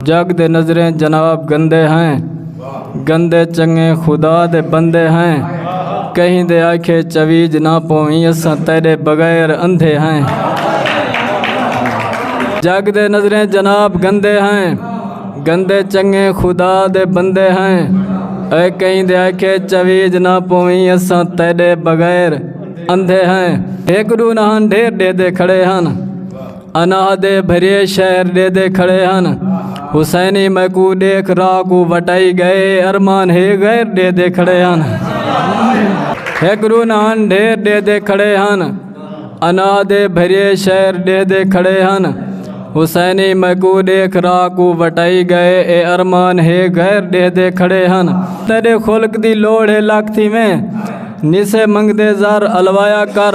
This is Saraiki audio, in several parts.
جگ دے نظریں جناب گندے ہیں گندے چنگے خدا دے بندے ہیں کہیں دے آکھے چویج نہ پویں اساں تیرے بغیر اندھے ہیں جگ دے نظریں جناب گندے ہیں گندے چنگے خدا دے بندے ہیں اے کہیں دے آکھے چویج نہ پویں اساں تیرے بغیر اندھے ہیں ایک ڈو نہ ہن ڈھیر ڈے دے کھڑے ہیں انا دے بھریے شہر دے دے کھڑے ہن حسینی میں کو دیکھ را کو وٹائی گئے ارمان ہے غیر دے دے کھڑے ہن ایک رونان ڈھیر دے دے کھڑے ہن انا دے بھریے شہر دے دے کھڑے ہن حسینی میں کو دیکھ را کو وٹائی گئے اے ارمان ہے غیر دے دے کھڑے ہن تیرے خلق دی لوڑ ہے لاکھ تھی میں نسے منگ دے زار الوایا کر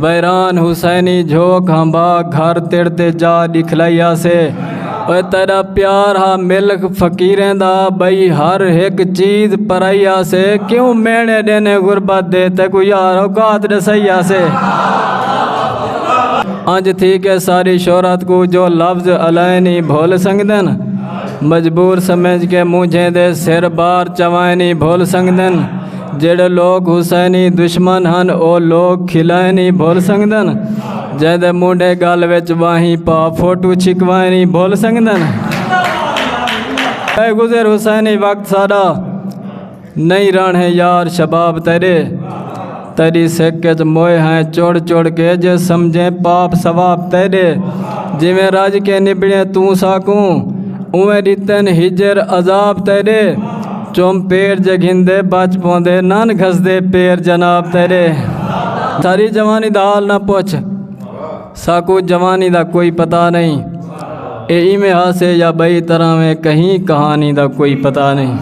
ویران حسینی جھوک ہمبا گھر تڑ تے جا دکھلائی آسے اوے تیرا پیار ہا ملک فقیریں دا بھئی ہر ایک چیز پرائی آسے کیوں مینے دینے غربت دے تے کو یار اوقات دسائی آسے انج تھی کے ساری شہرت کو جو لفظ علائے نہیں بھول سنگدن مجبور سمجھ کے مونجھیں دے سر بار چوائے نہیں بھول سنگدن جیڑھے لوک حسینی دشمن ہن او لوک کھلائیں نہیں بھول سنگدن جے دے مونڈے گل وچ واہیں پا فوٹو چھکوائیں نہیں بھول سنگدن اے گزر حسینی وقت ساڈا نہیں رن ہے یار شباب تیرے تیری سکھ وچ موئے ہیں چوڑ چوڑ کے جے سمجھیں پاپ ثواب تیرے جویں راج کے نبڑے توں ساکوں اویں ڈتن ہجر عذاب تیرے چم پیر جے گھندے بچ پوندے نان گھسدے پیر جناب تیرے ساری جوانی دا حال نہ پوچھ ساکو جوانی دا کوئی پتہ نہیں اے ایویں ہاسے یا بئی طرح میں کہیں کہانی دا کوئی پتہ نہیں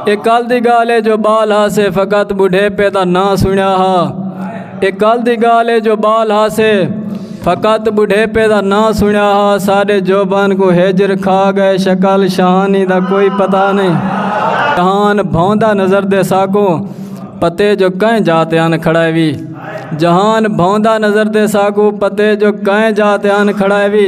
اے کل دی گال ہے جو بال ہاسے فقط بڑھے پہ دا نہ سنیا ہا اے کل دی گال ہے جو بال ہاسے فقط بڑھیپے دا نا سنیا ہا سارے جوبان کو ہجر کھا گئے شکل شہانی دا کوئی پتہ نہیں جہان بھوندا نظر دے ساکو پتے جو کہیں جاتے آن کھڑائے بھی جہان بھوندا نظر دے ساکو پتے جو کہیں جاتے آن کھڑائے بھی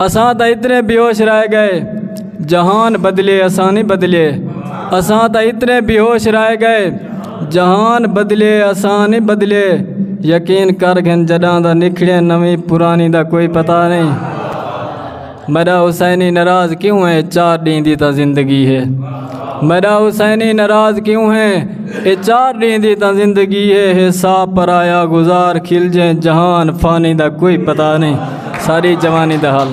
اساں تا اتنے بیوش رہ گئے جہان بدلے اساں نہیں بدلے اساں تا اتنے بیوش رہ گئے جہان بدلے اساں نہیں بدلے یقین کر گھن جڈاں دا نکھڑے نویں پرانی دا کوئی پتہ نہیں میرا حسینی ناراض کیوں ہے چار ڈین دی تا زندگی ہے میڈا حسینی ناراض کیوں ہے اے چار ڈین دی تاں زندگی ہے حساب پر آیا گزار کھل جیں جہان فانی دا کوئی پتہ نہیں ساری جوانی دا حال